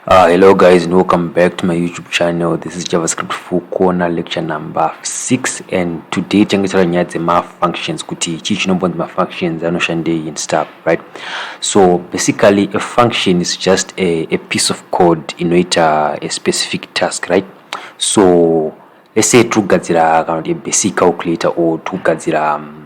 Uh, hello guys and welcome back to my youtube channel this is javascript full corner lecture number 6 and today tiange taura nyaya dzemafunctions kuti chii chinombonzi mafunctions anoshandei and stuff right so basically a function is just a, a piece of code inoita a specific task right so let's say tirikugadzira kana kuti a basic calculator or tirikugadzira um,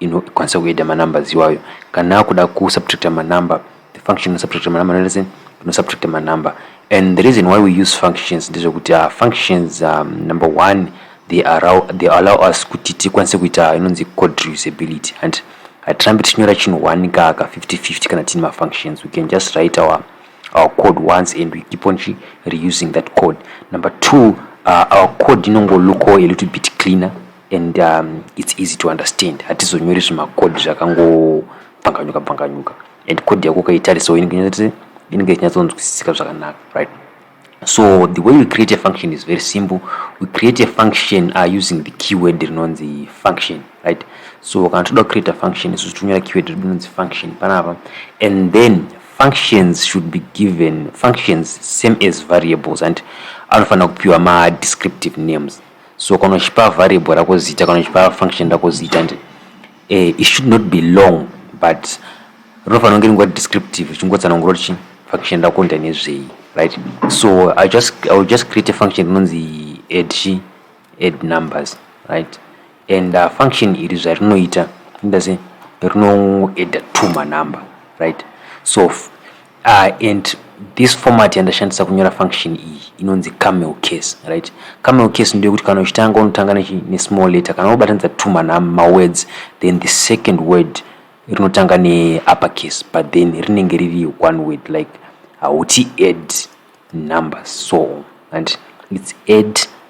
inokwanisa kuedha manumbers iwayo kana akuda kusubtracta manumber the function inosubtracta manumber inoita sei inosubtracta manumber and the reason why we use functions ndezvekuti uh, functions um, number one they allow, they allow us kuti tikwanise kuita inonzi code reusability and hatirambi tichinyora chinhu one kaka 50 50 kana tiine mafunctions we can just write our, our code once and we keep on reusing that code number two uh, our code inongoluko a little bit cleaner and um, it's easy to understand hatizonyori zvimakodi zvakangobvanganyuka bvanganyuka and kodi yako ukaitarisawo inenge ichinyatsonzwisisika zvakanaka right so the way we create a function is very simple we create a function uh, using the keyword rinonzi function right so kana toda kucreate a function isu tonyora keyword rinonzi function panapa and then functions should be given functions same as variables and anofanira kupiwa madescriptive names so kana uchipa variable rako zita kana uchipa function rako zita ndi eh, it should not be long but rinofanira kunge ringori descriptive richingotsanangura kuti chii function rako nda nezvei right so i just i will just create a function inonzi add chi add numbers right and uh, function iri zvarinoita ndase rinoedda two manumber right so Ah, and this format yandashandisa kunyora function iyi inonzi camel case right camel case ndoyekuti kana uchitanga unotanga nesmall letter kana wobatanidza two mawords then the second word rinotanga neupper case but then rinenge riri one word like hauti add numbers so and its add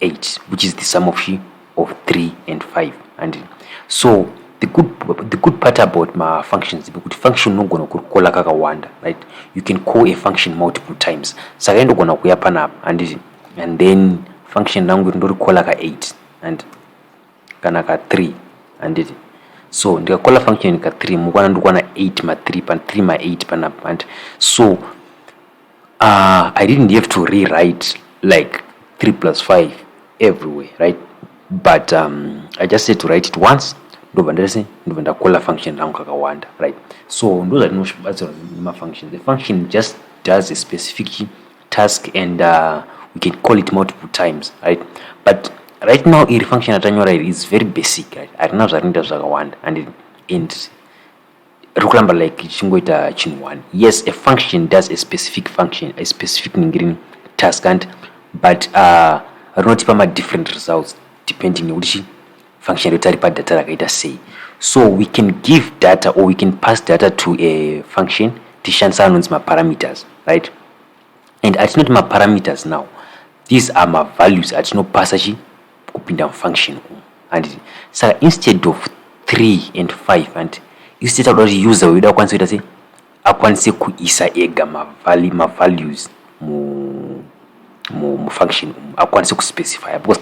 8 which is the sum of she of 3 and 5 and so the good, the good part about mafunctions kuti function unogona kurikola kakawanda right you can call a function multiple times saka indogona kuya panapa handiti and then function rangu iri ndorikola ka 8 and kana ka 3 handiti so ndikakola function ka 3 mukwana ndikwana 8 ma 3 pa 3 ma 8 panapa and so uh, i didn't have to rewrite like 3 plus 5 everywhere right but um, i just said to write it once ndobva ndese ndobva ndakola function rangu kakawanda right so ndozvatinobatsirwa nemafunction the function just does a specific task and uh, we can call it multiple times right but right now iri function atanyora iri is very basic right harina zvarinoita zvakawanda and, and riri kuramba like ichingoita chinhu one yes a function does a specific function a specific ningirini task and but uh, rinotipa madifferent results depending nekuti chi function rekuti aripa data rakaita sei so we can give data or we can pass data to a function tishandisa anonzi maparameters right and atinoti maparameters now these are mavalues atinopasa chi kupinda mufunction umu handiti saka instead of 3 and 5 handiti isi titakuda kuti user wedu akwanise kuita sei akwanise kuisa ega mavalues mufunction umu akwanise kuspecifya because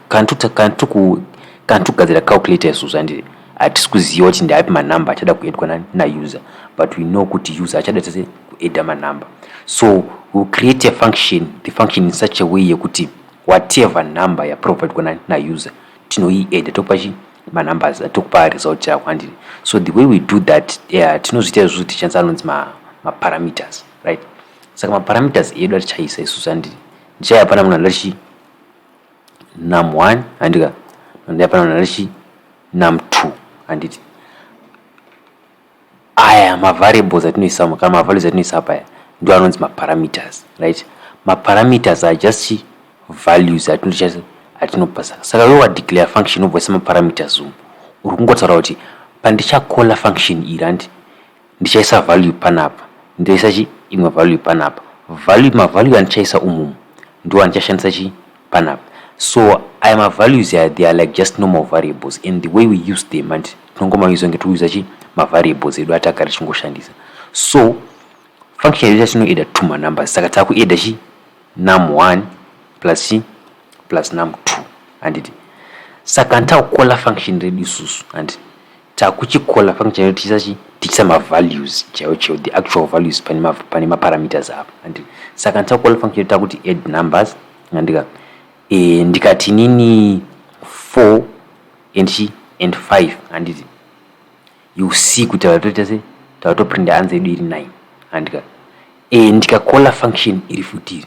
kana togadzira calculator isusu handiti hatisi kuziva kuti ndaapi manumber achada kuedwa nauser but we know kuti user achada tese kueda manumber so we'll create a function the function in such a way yekuti whatever number yaprovidwa na, na user tinoieda tokupa chi manumbers atokupa result yako handini so the way we do that yeah, tinozviita izvozvo tichanisa anonzi maparameters ma right saka maparameters edu atichaisa isusu handini ndichaya pana munhu anoda chi num one handika ndaya pana munhu anoda chi num two handiti aya mavariables atinoisa muka mavalues atinoisa apaya ndo anonzi maparameters right maparameters are just values atinocha atinopasa saka wewa declare function obvisa maparameters umu uri kungotaura kuti pandichakola function iri handi ndichaisa value panapa ndoisa chi imwe value panapa value mavalue andichaisa umumu ndo andichashandisa chi panapa so aya mavalues aya they are like just normal variables and the way we use them hanti tinongomausa kunge tiri kuuza chi mavariables edu atagara tichingoshandisa so function yedu yatinoeda two manumbers saka takueda chi num one plus chi plus num two handiti saka nditakukola function redu isusu hanti Takuchikola function chaiyo tichisa chi tichisa ma values chaiyo chaiyo the actual values pane ma pane ma parameters apa and saka takukola function chaiyo takuti add numbers ngandika eh ndikati nini 4 and chi and 5 handiti you see kuti vatoita se tavato print answer yedu iri 9 handika eh ndikakola function iri futiri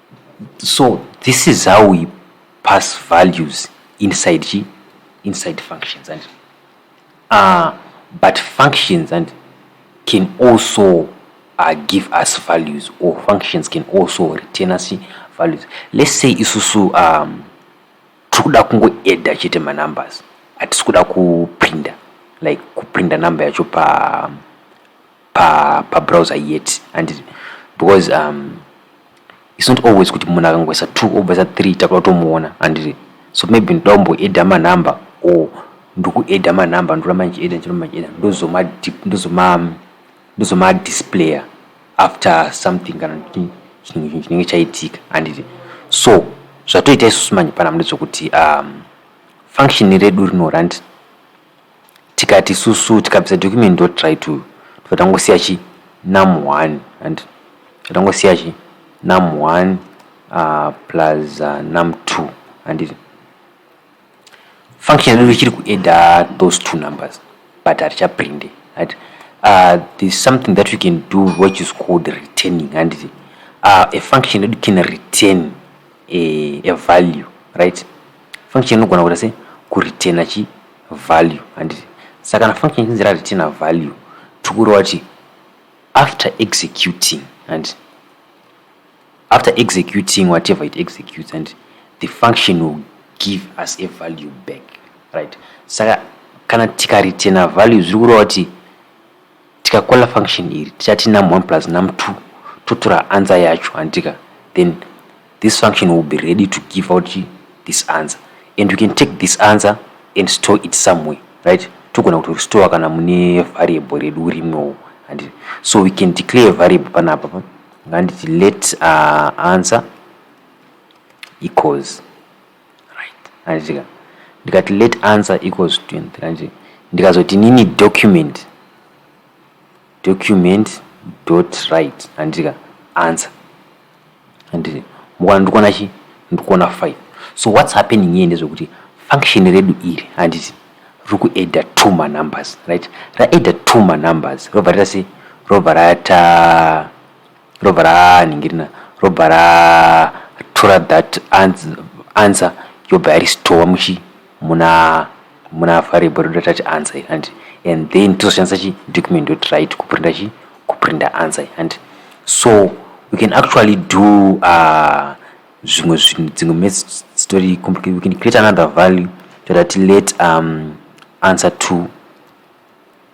So this is how we pass values inside chi inside functions and uh, but functions and can also uh, give us values or functions can also retain us values let's say isusu um, tiri kuda kungoedha chete manumbers hatisi kuda kuprinda like kuprinda number yacho pa um, pa pa browser yet and because um it's not always kuti munhu akangoisa two obvisa 3 takuda kutomuona and so maybe ndoda kumboeda manumber or ndikueda manumber ndoramba ndichieda ndichiramba ndichieda ndozoma ndozoma ndozoma displayer after something kana chinhu chinenge chaitika anditi so zvatoita isusu manje pana mune zvokuti um function redu rinorandi tikati susu tikabvisa document ndotry to tibva tangosiya chi num 1 and tangosiya chi num 1 uh, plus uh, num 2 handiti function yedu ichiri kuadda those two numbers but hatichaprinde right uh, there's something that we can do which is called returning handiti uh, a function yedu can return a, a value right Function inogona kuita se kureturna chi value handiti saka kana function ichinzi rareturna value tikureva kuti after executing handiti after executing whatever it executes handiti the function will give us a value back right saka kana tikareturna value zviri kureva kuti tikakola function iri tichati num1 plus num2 totora answer yacho handitika then this function will be ready to give out this answer and you can take this answer and store it somewhere right togona kuti restore kana mune variable redu rimwewo and so we can declare variable panapa pa nganditi let uh, answer equals right anditika ndikati let answer equals 23 ndikazoti nini document Document dot right handiti ka answer handiti mukwana ndikona chi ndikona 5 so what's happening here ndezvekuti function redu iri handiti riri kuadda two manumbers right raadda two manumbers robva rita sei robva rata robva ranhingirina robva ratora that answer yobva yaristova muchi muna muna variable ndoda touch answer and and then tozoshandisa chi document dot write kuprinta chi kuprinta answer and so we can actually do uh, zvimwe zvinhu dzimwe message story complicated we can create another value toda ti let um, answer to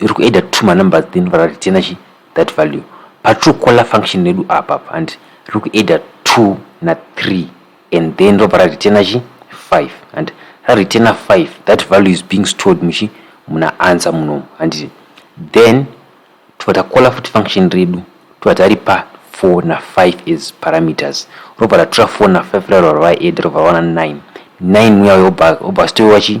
iri kuedda two manumbers then vara returna chi that value patrue caller function redu apa and riri kuedda two na three and then ndobva rareturna chi five and rareturna five that value is being stored muchi muna answer munomu handiti then tobva takola futi function redu tobva tari pa four na five as parameters robva ratora four na five rarova raedda robva rawana nine nine muya uyo obva stoiwa chi